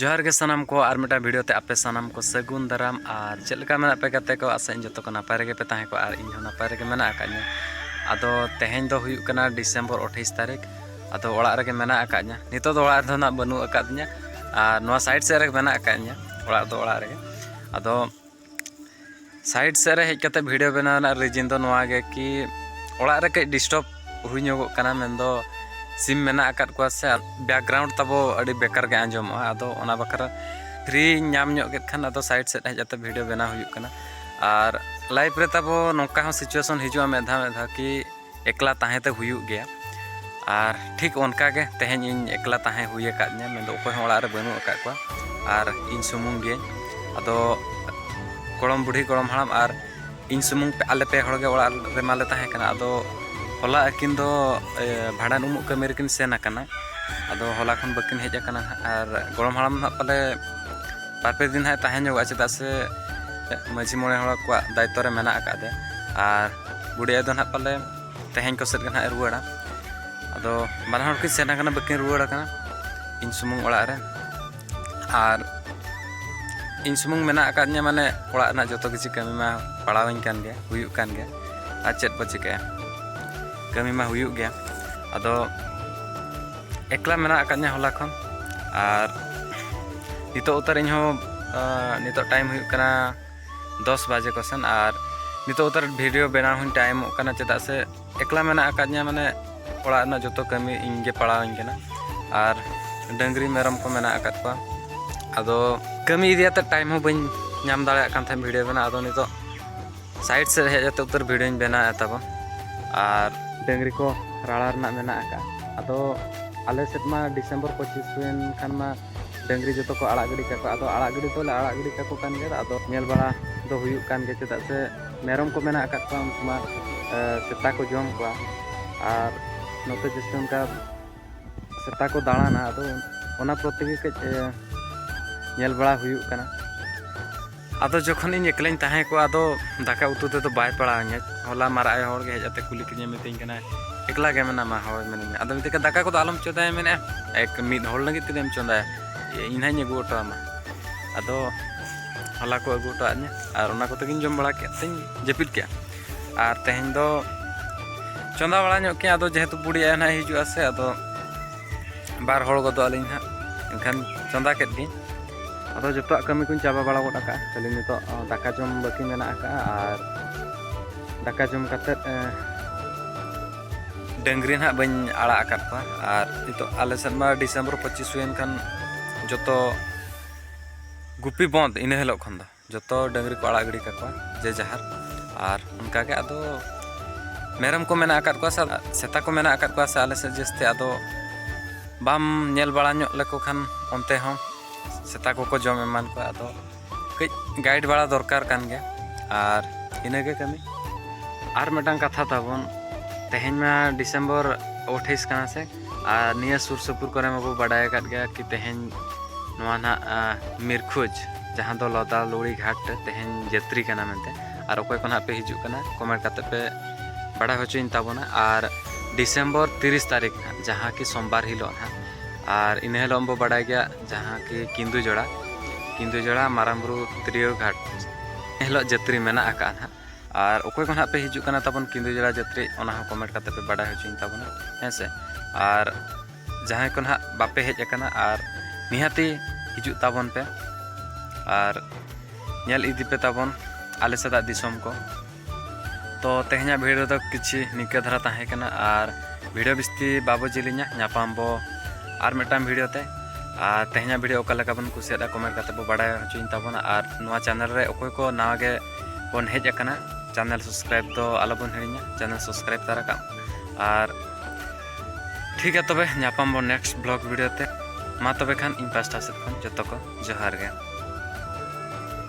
ᱡᱚᱦᱟᱨ ᱜᱮ ᱥᱟᱱᱟᱢ ᱠᱚ ᱟᱨ ᱢᱤᱫᱴᱟᱝ ᱵᱷᱤᱰᱤᱭᱳ ᱛᱮ ᱟᱯᱮ ᱥᱟᱱᱟᱢ ᱠᱚ ᱥᱟᱹᱜᱩᱱ ᱫᱟᱨᱟᱢ ᱟᱨ ᱪᱮᱫ ᱞᱮᱠᱟ ᱢᱮᱱᱟᱜ ᱯᱮ ᱜᱟᱛᱮ ᱠᱚ ᱟᱥᱟ ᱤᱧ ᱡᱚᱛᱚ ᱠᱚ ᱱᱟᱯᱟᱭ ᱨᱮᱜᱮ ᱯᱮ ᱛᱟᱦᱮᱸ ᱠᱚᱜᱼᱟ ᱟᱨ ᱤᱧ ᱦᱚᱸ ᱱᱟᱯᱟᱭ ᱨᱮᱜᱮ ᱢᱮᱱᱟᱜ ᱟᱠᱟᱫᱤᱧᱟ ᱟᱫᱚ ᱛᱮᱦᱮᱧ ᱫᱚ ᱦᱩᱭᱩᱜ ᱠᱟᱱᱟ ᱰᱤᱥᱮᱢᱵᱚᱨ ᱟᱴᱷᱟᱭᱤᱥ ᱛᱟᱹᱨᱤᱠᱷ ᱟᱫᱚ ᱚᱲᱟᱜ ᱨᱮᱜᱮ ᱢᱮᱱᱟᱜ ᱟᱠᱟᱫᱤᱧᱟ ᱱᱤᱛᱚᱜ ᱫᱚ ᱚᱲᱟᱜ ᱨᱮᱫᱚ ᱱᱟᱜ ᱵᱟᱹᱱᱩᱜ ᱟᱠᱟᱫᱤᱧᱟ ᱟᱨ ᱱᱚᱣᱟ ᱥᱟᱭᱤᱰ ᱥᱮᱫ ᱨᱮᱜᱮ ᱢᱮᱱᱟᱜ ᱟᱠᱟᱫᱤᱧᱟ ᱚᱲᱟᱜ ᱫᱚ ᱚᱲᱟᱜ ᱨᱮᱜᱮ ᱟᱫᱚ ᱥᱟᱭᱤᱰ ᱥᱮᱫ ᱨᱮ ᱦᱮᱡ ᱠᱟᱛᱮ ᱵᱷᱤᱰᱤᱭᱳ ᱵᱮᱱᱟᱣ ᱨᱮᱱᱟᱜ ᱨᱤᱡᱤᱱ ᱫᱚ ᱱᱚᱣᱟ ᱜᱮ ᱠᱤ ᱚᱲᱟᱜ ᱨᱮ ᱠᱟᱹᱡ ᱰᱤᱥᱴᱟᱨᱵ ᱦᱩᱭ ᱧᱚᱜᱚᱜ ᱠᱟᱱᱟ ᱢᱮᱱᱫᱚ ᱥᱤᱢ ᱢᱮᱱᱟᱜ ᱟᱠᱟᱫ ᱠᱚᱣᱟ ᱥᱮ ᱵᱮᱠᱜᱨᱟᱣᱩᱱᱰ ᱛᱟᱵᱚ ᱟᱹᱰᱤ ᱵᱮᱠᱟᱨ ᱜᱮ ᱟᱸᱡᱚᱢᱚᱜᱼᱟ ᱟᱫᱚ ᱚᱱᱟ ᱵᱟᱠᱷᱨᱟ ᱯᱷᱨᱤ ᱧᱟᱢ ᱧᱚᱜ ᱠᱮᱫ ᱠᱷᱟᱱ ᱟᱫᱚ ᱥᱟᱭᱤᱰ ᱥᱮᱫ ᱦᱮᱡ ᱠᱟᱛᱮ ᱵᱷᱤᱰᱤᱭᱳ ᱵᱮᱱᱟᱣ ᱦᱩᱭᱩᱜ ᱠᱟᱱᱟ ᱟᱨ ᱞᱟᱭᱤᱯᱷ ᱨᱮ ᱛᱟᱵᱚ ᱱᱚᱝᱠᱟ ᱦᱚᱸ ᱥᱤᱪᱩᱭᱮᱥᱚᱱ ᱦᱤᱡᱩᱜᱼᱟ ᱢᱤᱫ ᱫᱷᱟᱣ ᱢᱤᱫ ᱫᱷᱟᱣ ᱠᱤ ᱮᱠᱞᱟ ᱛᱟᱦᱮᱸ ᱛᱮ ᱦᱩᱭᱩᱜ ᱜᱮᱭᱟ ᱟᱨ ᱴᱷᱤᱠ ᱚᱱᱠᱟ ᱜᱮ ᱛᱮᱦᱮᱧ ᱤᱧ ᱮᱠᱞᱟ ᱛᱟᱦᱮᱸ ᱦᱩᱭ ᱟᱠᱟᱫᱤᱧᱟ ᱢᱮᱱᱫᱚ ᱚᱠᱚᱭ ᱦᱚᱸ ᱚᱲᱟᱜ ᱨᱮ ᱵᱟᱹᱱᱩᱜ ᱟᱠᱟᱫ ᱠᱚᱣᱟ ᱟᱨ ᱤᱧ ᱥᱩᱢᱩᱝ ᱜᱮ ᱟᱫᱚ ᱜᱚᱲᱚᱢ ᱵᱩᱰᱷᱤ ᱜᱚᱲᱚᱢ ᱦᱟᱲᱟᱢ ᱟᱨ ᱤᱧ ᱥᱩᱢᱩᱝ ᱟᱞᱮ ᱯᱮ ᱦᱚᱲ ᱜᱮ ᱚᱲᱟᱜ ᱨᱮ ᱢᱟᱞᱮ ᱛᱟᱦᱮᱸ ᱠᱟᱱᱟ ᱟᱫᱚ ᱦᱚᱞᱟ ᱟᱹᱠᱤᱱ ᱫᱚ ᱵᱷᱟᱸᱰᱟᱱ ᱩᱢᱩᱜ ᱠᱟᱹᱢᱤ ᱨᱮᱠᱤᱱ ᱥᱮᱱ ᱟᱠᱟᱱᱟ ᱟᱫᱚ ᱦᱚᱞᱟ ᱠᱷᱚᱱ ᱵᱟᱹᱠᱤᱱ ᱦᱮᱡ ᱟᱠᱟᱱᱟ ᱟᱨ ᱜᱚᱲᱚᱢ ᱦᱟᱲᱟᱢ ᱱᱟᱜ ᱯᱟᱞᱮ ᱵᱟᱨ ᱯᱮ ᱫᱤᱱ ᱦᱟᱸᱜ ᱛᱟᱦᱮᱸ ᱧᱚᱜᱚᱜᱼᱟ ᱪᱮᱫᱟᱜ ᱥᱮ ᱢᱟᱺᱡᱷᱤ ᱢᱚᱬᱮ ᱦᱚᱲ ᱠᱚᱣᱟᱜ ᱫᱟᱭᱤᱛᱛᱚ ᱨᱮ ᱢᱮᱱᱟᱜ ᱟᱠᱟᱫᱮᱭᱟ ᱟᱨ ᱵᱩᱰᱷᱤ ᱟᱭᱳ ᱫᱚ ᱱᱟᱦᱟᱜ ᱯᱟᱞᱮ ᱛᱮᱦᱮᱧ ᱠᱚ ᱥᱮᱫ ᱜᱮ ᱱᱟᱦᱟᱜ ᱨᱩᱣᱟᱹᱲᱟ ᱟᱫᱚ ᱵᱟᱱᱟ ᱦᱚᱲ ᱠᱤᱱ ᱥᱮᱱ ᱟᱠᱟᱱᱟ ᱵᱟᱹᱠᱤᱱ ᱨᱩᱣᱟᱹᱲ ᱟᱠᱟᱱᱟ ᱤᱧ ᱥᱩᱢᱩᱝ ᱚᱲᱟᱜ ᱨᱮ ᱟᱨ ᱤᱧ ᱥᱩᱢᱩᱝ ᱢᱮᱱᱟᱜ ᱟᱠᱟᱫᱤᱧᱟ ᱢᱟᱱᱮ ᱚᱲᱟᱜ ᱨᱮᱱᱟᱜ ᱡᱚᱛᱚ ᱠᱤᱪᱷᱩ ᱠᱟᱹᱢᱤ ᱢᱟ ᱯᱟᱲᱟᱣᱤᱧ ᱠᱟᱱ ᱜᱮᱭᱟ ᱦᱩᱭᱩᱜ ᱠᱟᱱ ᱜᱮᱭᱟ ᱟᱨ ᱪᱮᱫ ᱵᱚ ᱪᱤᱠᱟᱹᱭᱟ ᱠᱟᱹᱢᱤ ᱢᱟ ᱦᱩᱭᱩᱜ ᱜᱮᱭᱟ ᱟᱫᱚ ᱮᱠᱞᱟ ᱢᱮᱱᱟᱜ ᱟᱠᱟᱫᱤᱧᱟ ᱦᱚᱞᱟ ᱠᱷᱚᱱ ᱟᱨ ᱱᱤᱛᱚᱜ ᱩᱛᱟᱹᱨ ᱤᱧᱦᱚᱸ ᱱᱤᱛᱚᱜ ᱴᱟᱭᱤᱢ ᱦᱩᱭᱩᱜ ᱠᱟᱱᱟ ᱫᱚᱥ ᱵᱟᱡᱮ ᱠᱚᱥᱮᱱ ᱟᱨ ᱱᱤᱛᱚᱜ ᱩᱛᱟᱹᱨ ᱵᱷᱤᱰᱤᱭᱳ ᱵᱮᱱᱟᱣ ᱦᱚᱸᱧ ᱛᱟᱭᱚᱢᱚᱜ ᱠᱟᱱᱟ ᱪᱮᱫᱟᱜ ᱥᱮ ᱮᱠᱞᱟ ᱢᱮᱱᱟᱜ ᱟᱠᱟᱫᱤᱧᱟ ᱢᱟᱱᱮ ᱚᱲᱟᱜ ᱨᱮᱱᱟᱜ ᱡᱚᱛᱚ ᱠᱟᱹᱢᱤ ᱤᱧ ᱜᱮ ᱯᱟᱲᱟᱣᱤᱧ ᱠᱟᱱᱟ ᱟᱨ ᱰᱟᱹᱝᱨᱤ ᱢᱮᱨᱚᱢ ᱠᱚ ᱢᱮᱱᱟᱜ ᱟᱠᱟᱫ ᱠᱚᱣᱟ ᱟᱫᱚ ᱠᱟᱹᱢᱤ ᱤᱫᱤ ᱠᱟᱛᱮ ᱴᱟᱭᱤᱢ ᱦᱚᱸ ᱵᱟᱹᱧ ᱧᱟᱢ ᱫᱟᱲᱮᱭᱟᱜ ᱠᱟᱱ ᱛᱟᱦᱮᱸᱫ ᱵᱷᱤᱰᱤᱭᱳ ᱵᱮᱱᱟᱣ ᱟᱫᱚ ᱱᱤᱛᱚᱜ ᱥᱟᱭᱤᱰ ᱥᱮᱫ ᱦᱮᱡ ᱠᱟᱛᱮ ᱩᱛᱟᱹᱨ ᱵᱷᱤᱰᱤᱭᱳᱧ ᱵᱮᱱᱟᱣᱮᱫ ᱛᱟᱵᱚ ᱟᱨ ᱰᱟᱹᱝᱨᱤ ᱠᱚ ᱨᱟᱲᱟ ᱨᱮᱱᱟᱜ ᱢᱮᱱᱟᱜ ᱟᱠᱟᱫ ᱟᱫᱚ ᱟᱞᱮ ᱥᱮᱫ ᱢᱟ ᱰᱤᱥᱮᱢᱵᱚᱨ ᱯᱚᱸᱪᱤᱥ ᱦᱩᱭᱮᱱ ᱠᱷᱟᱱ ᱢᱟ ᱰᱟᱹᱝᱨᱤ ᱡᱚᱛᱚ ᱠᱚ ᱟᱲᱟᱜ ᱜᱤᱰᱤ ᱠᱟᱠᱚ ᱟᱫᱚ ᱟᱲᱟᱜ ᱜᱤᱰᱤ ᱫᱚᱞᱮ ᱟᱲᱟᱜ ᱜᱤᱰᱤ ᱠᱟᱠᱚ ᱠᱟᱱ ᱜᱮᱭᱟ ᱟᱫᱚ ᱧᱮᱞ ᱵᱟᱲᱟ ᱫᱚ ᱦᱩᱭᱩᱜ ᱠᱟᱱ ᱜᱮᱭᱟ ᱪᱮᱫᱟᱜ ᱥᱮ ᱢᱮᱨᱚᱢ ᱠᱚ ᱢᱮᱱᱟᱜ ᱟᱠᱟᱫ ᱠᱚᱣᱟ ᱩᱱᱠᱩ ᱢᱟ ᱥᱮᱛᱟ ᱠᱚ ᱡᱚᱢ ᱠᱚᱣᱟ ᱟᱨ ᱱᱚᱛᱮ ᱡᱟᱹᱥᱛᱤ ᱚᱱᱠᱟ ᱥᱮᱛᱟ ᱠᱚ ᱫᱟᱬᱟᱱᱟ ᱟᱫᱚ ᱚᱱᱟ ᱯᱨᱚᱛᱮ ᱜᱮ ᱠᱟᱹᱡ ᱧᱮᱞ ᱵᱟᱲᱟ ᱦᱩᱭᱩᱜ ᱠᱟᱱᱟ ᱟᱫᱚ ᱡᱚᱠᱷᱚᱱ ᱤᱧ ᱮᱠᱞᱟᱧ ᱛᱟᱦᱮᱸ ᱠᱚᱜᱼᱟ ᱟᱫᱚ ᱫᱟᱠᱟ ᱩᱛᱩ ᱛᱮᱫᱚ ᱵᱟᱭ ᱯᱟᱲᱟᱣᱤᱧᱟᱹ ᱦᱚᱞᱟ ᱢᱟᱨᱟᱜ ᱟᱭᱳ ᱦᱚᱲ ᱜᱮ ᱦᱮᱡ ᱟᱛᱮ ᱠᱩᱞᱤ ᱠᱤᱫᱤᱧᱟ ᱢᱤᱛᱟᱹᱧ ᱠᱟᱱᱟ ᱮᱠᱞᱟ ᱜᱮ ᱢᱮᱱᱟᱢᱟ ᱦᱳᱭ ᱢᱮᱱᱟᱹᱧᱟ ᱟᱫᱚ ᱢᱤᱛᱟᱹᱧ ᱠᱟᱱᱟ ᱫᱟᱠᱟ ᱠᱚᱫᱚ ᱟᱞᱚᱢ ᱪᱚᱸᱫᱟᱭᱟ ᱢᱮᱱᱮᱫᱼᱟ ᱮᱠ ᱢᱤᱫ ᱦᱚᱲ ᱞᱟᱹᱜᱤᱫ ᱛᱮᱜᱮᱢ ᱪᱚᱸᱫᱟᱭᱟ ᱤᱧ ᱱᱟᱦᱟᱜ ᱤᱧ ᱟᱹᱜᱩ ᱦᱚᱴᱚ ᱟᱢᱟ ᱟᱫᱚ ᱦᱚᱞᱟ ᱠᱚ ᱟᱹᱜᱩ ᱦᱚᱴᱚ ᱟᱫᱤᱧᱟ ᱟᱨ ᱚᱱᱟ ᱠᱚᱛᱮ ᱜᱤᱧ ᱡᱚᱢ ᱵᱟᱲᱟ ᱠᱮᱫ ᱛᱤᱧ ᱡᱟᱹᱯᱤᱫ ᱠᱮᱫᱼᱟ ᱟᱨ ᱛᱮᱦᱮᱧ ᱫᱚ ᱪᱚᱸᱫᱟ ᱵᱟᱲᱟ ᱧᱚᱜ ᱠᱮᱫᱼᱟ ᱟᱫᱚ ᱡᱮᱦᱮᱛᱩ ᱵᱩᱰᱷᱤ ᱟᱭᱳ ᱱᱟᱦᱟᱜ ᱦᱤᱡᱩᱜᱼᱟ ᱥᱮ ᱟᱫᱚ ᱵᱟᱨ ᱦᱚᱲ ᱜᱚᱫᱚᱜ ᱟᱹᱞᱤᱧ ᱦᱟᱸᱜ ᱮᱱᱠᱷᱟᱱ ᱪᱚᱸᱫᱟ ᱠᱮᱫ ᱜᱤᱧ ᱟᱫᱚ ᱡᱚᱛᱚᱣᱟᱜ ᱠᱟᱹᱢᱤ ᱠᱚᱧ ᱪᱟᱵᱟ ᱵᱟᱲᱟ ᱜᱚᱫ ᱟᱠᱟᱫᱼᱟ ᱠᱷᱟᱹᱞᱤ ᱱᱤᱛᱚᱜ ᱫᱟᱠᱟ ᱡᱚᱢ ᱵᱟᱹᱠᱤ ᱢᱮᱱᱟᱜ ᱟᱠᱟᱫᱼᱟ ᱟᱨ ᱫᱟᱠᱟ ᱡᱚᱢ ᱠᱟᱛᱮᱫ ᱰᱟᱹᱝᱨᱤ ᱱᱟᱦᱟᱜ ᱵᱟᱹᱧ ᱟᱲᱟᱜ ᱟᱠᱟᱫ ᱠᱚᱣᱟ ᱟᱨ ᱱᱤᱛᱚᱜ ᱟᱞᱮ ᱥᱮᱫ ᱢᱟ ᱰᱤᱥᱮᱢᱵᱚᱨ ᱯᱚᱸᱪᱤᱥ ᱦᱩᱭᱮᱱ ᱠᱷᱟᱱ ᱡᱚᱛᱚ ᱜᱩᱯᱤ ᱵᱚᱸᱫᱽ ᱤᱱᱟᱹ ᱦᱤᱞᱳᱜ ᱠᱷᱚᱱ ᱫᱚ ᱡᱚᱛᱚ ᱰᱟᱹᱝᱨᱤ ᱠᱚ ᱟᱲᱟᱜ ᱜᱤᱰᱤ ᱠᱟᱠᱚᱣᱟ ᱡᱮ ᱡᱟᱦᱟᱨ ᱟᱨ ᱚᱱᱠᱟ ᱜᱮ ᱟᱫᱚ ᱢᱮᱨᱚᱢ ᱠᱚ ᱢᱮᱱᱟᱜ ᱟᱠᱟᱫ ᱠᱚᱣᱟ ᱥᱮ ᱥᱮᱛᱟ ᱠᱚ ᱢᱮᱱᱟᱜ ᱟᱠᱟᱫ ᱠᱚᱣᱟ ᱥᱮ ᱟᱞᱮ ᱥᱮᱫ ᱡᱟᱹᱥᱛᱤ ᱟᱫᱚ ᱵᱟᱢ ᱧᱮᱞ ᱵᱟᱲᱟ ᱧᱚᱜ ᱞᱮᱠᱚ ᱠᱷᱟᱱ ᱚᱱᱛᱮ ᱦᱚᱸ ᱥᱮᱛᱟ ᱠᱚᱠᱚ ᱡᱚᱢ ᱮᱢᱟᱱ ᱠᱚᱣᱟ ᱟᱫᱚ ᱠᱟᱹᱡ ᱜᱟᱭᱤᱰ ᱵᱟᱲᱟ ᱫᱚᱨᱠᱟᱨ ᱠᱟᱱ ᱜᱮᱭᱟ ᱟᱨ ᱤᱱᱟᱹᱜᱮ ᱠᱟᱹᱢᱤ ᱟᱨ ᱢᱤᱫᱴᱟᱝ ᱠᱟᱛᱷᱟ ᱛᱟᱵᱚᱱ ᱛᱮᱦᱮᱧ ᱢᱟ ᱰᱤᱥᱮᱢᱵᱚᱨ ᱟᱴᱷᱟᱭᱤᱥ ᱠᱟᱱᱟ ᱥᱮ ᱟᱨ ᱱᱤᱭᱟᱹ ᱥᱩᱨ ᱥᱩᱯᱩᱨ ᱠᱚᱨᱮ ᱢᱟᱵᱚ ᱵᱟᱰᱟᱭ ᱟᱠᱟᱫ ᱜᱮᱭᱟ ᱠᱤ ᱛᱮᱦᱮᱧ ᱱᱚᱣᱟ ᱱᱟᱦᱟᱜ ᱢᱤᱨᱠᱷᱩᱡᱽ ᱡᱟᱦᱟᱸ ᱫᱚ ᱞᱚᱫᱟ ᱞᱩᱲᱤ ᱜᱷᱟᱴ ᱛᱮᱦᱮᱧ ᱡᱟᱛᱨᱤ ᱠᱟᱱᱟ ᱢᱮᱱᱛᱮ ᱟᱨ ᱚᱠᱚᱭ ᱠᱚ ᱱᱟᱦᱟᱜ ᱯᱮ ᱦᱤᱡᱩᱜ ᱠᱟᱱᱟ ᱠᱚᱢᱮᱱᱴ ᱠᱟᱛᱮ ᱯᱮ ᱵᱟᱰᱟᱭ ᱦᱚᱪᱚᱭᱤᱧ ᱛᱟᱵᱚᱱᱟ ᱟᱨ ᱰᱤᱥᱮᱢᱵᱚᱨ ᱛᱤᱨᱤᱥ ᱛᱟᱹᱨᱤᱠᱷ ᱱᱟᱦᱟᱜ ᱡᱟᱦᱟᱸ ᱠᱤ ᱥᱳᱢᱵᱟᱨ ᱦᱤᱞᱳᱜ ᱱᱟᱦᱟᱜ ᱟᱨ ᱤᱱᱟᱹ ᱦᱤᱞᱳᱜ ᱵᱚ ᱵᱟᱰᱟᱭ ᱜᱮᱭᱟ ᱡᱟᱦᱟᱸ ᱠᱤ ᱠᱤᱱᱫᱩ ᱡᱚᱲᱟ ᱠᱤᱱᱫᱩ ᱡᱚᱲᱟ ᱢᱟᱨᱟᱝ ᱵᱩᱨᱩ ᱛᱤᱨᱭᱟᱹ ᱜᱷᱟᱴ ᱦᱤᱞᱳᱜ ᱡᱟᱛᱨᱤ ᱢᱮᱱᱟᱜ ᱟᱠᱟᱫᱼᱟ ᱱᱟᱦᱟᱜ ᱟᱨ ᱚᱠᱚᱭ ᱠᱚ ᱱᱟᱦᱟᱜ ᱯᱮ ᱦᱤᱡᱩᱜ ᱠᱟᱱᱟ ᱛᱟᱵᱚᱱ ᱠᱤᱸᱫᱩ ᱡᱚᱲᱟ ᱡᱟᱛᱨᱤ ᱚᱱᱟ ᱦᱚᱸ ᱠᱚᱢᱮᱱᱴ ᱠᱟᱛᱮ ᱯᱮ ᱵᱟᱰᱟᱭ ᱦᱚᱪᱚᱧ ᱛᱟᱵᱚᱱᱟ ᱦᱮᱸ ᱥᱮ ᱟᱨ ᱡᱟᱦᱟᱸᱭ ᱠᱚ ᱱᱟᱦᱟᱜ ᱵᱟᱯᱮ ᱦᱮᱡ ᱟᱠᱟᱱᱟ ᱟᱨ ᱱᱤᱦᱟᱹᱛᱤ ᱦᱤᱡᱩᱜ ᱛᱟᱵᱚᱱ ᱯᱮ ᱟᱨ ᱧᱮᱞ ᱤᱫᱤ ᱯᱮ ᱛᱟᱵᱚᱱ ᱟᱞᱮ ᱥᱮᱫᱟᱜ ᱫᱤᱥᱚᱢ ᱠᱚ ᱛᱚ ᱛᱮᱦᱮᱧᱟᱜ ᱵᱷᱤᱰᱤᱭᱳ ᱫᱚ ᱠᱤᱪᱷᱩ ᱱᱤᱝᱠᱟᱹ ᱫᱷᱟᱨᱟ ᱛᱟᱦᱮᱸ ᱠᱟᱱᱟ ᱟᱨ ᱵᱷᱤᱰᱤᱭᱳ ᱵᱤᱥᱛᱤ ᱵᱟᱵᱚ ᱡᱤᱞᱤᱧᱟ ᱧᱟᱯᱟᱢ ᱵᱚ ᱟᱨ ᱢᱤᱫᱴᱟᱝ ᱵᱷᱤᱰᱤᱭᱳ ᱛᱮ ᱟᱨ ᱛᱮᱦᱮᱧᱟᱜ ᱵᱷᱤᱰᱤᱭᱳ ᱚᱠᱟ ᱞᱮᱠᱟ ᱵᱚᱱ ᱠᱩᱥᱤᱭᱟᱫᱟ ᱠᱚᱢᱮᱱᱴ ᱠᱟᱛᱮ ᱵᱚ ᱵᱟᱰᱟᱭ ᱦᱚᱪᱚᱧ ᱛᱟᱵᱚᱱᱟ ᱟᱨ ᱱᱚᱣᱟ ᱪᱮᱱᱮᱞ ᱨᱮ ᱚᱠᱚᱭ ᱠᱚ ᱱᱟᱣᱟ ᱜᱮ ᱵᱚᱱ ᱦᱮᱡ ᱟᱠᱟᱱᱟ ᱪᱮᱱᱮᱞ ᱥᱟᱵᱥᱠᱨᱟᱭᱤᱵ ᱫᱚ ᱟᱞᱚᱵᱚᱱ ᱦᱤᱲᱤᱧᱟ ᱪᱮᱱᱮᱞ ᱥᱟᱵᱥᱠᱨᱟᱭᱤᱵ ᱛᱟᱨᱟ ᱠᱟᱜ ᱟᱨ ᱴᱷᱤᱠ ᱜᱮᱭᱟ ᱛᱚᱵᱮ ᱧᱟᱯᱟᱢ ᱵᱚᱱ ᱱᱮᱠᱥᱴ ᱵᱞᱚᱜ ᱵᱷᱤᱰᱤᱭᱳ ᱛᱮ ᱢᱟ ᱛᱚᱵᱮ ᱠᱷᱟᱱ ᱤᱧ ᱯᱟᱥᱴᱟ ᱥᱮᱫ ᱠᱷᱚᱱ ᱡᱚᱛᱚ ᱠᱚ ᱡᱚᱦᱟᱨ ᱜᱮ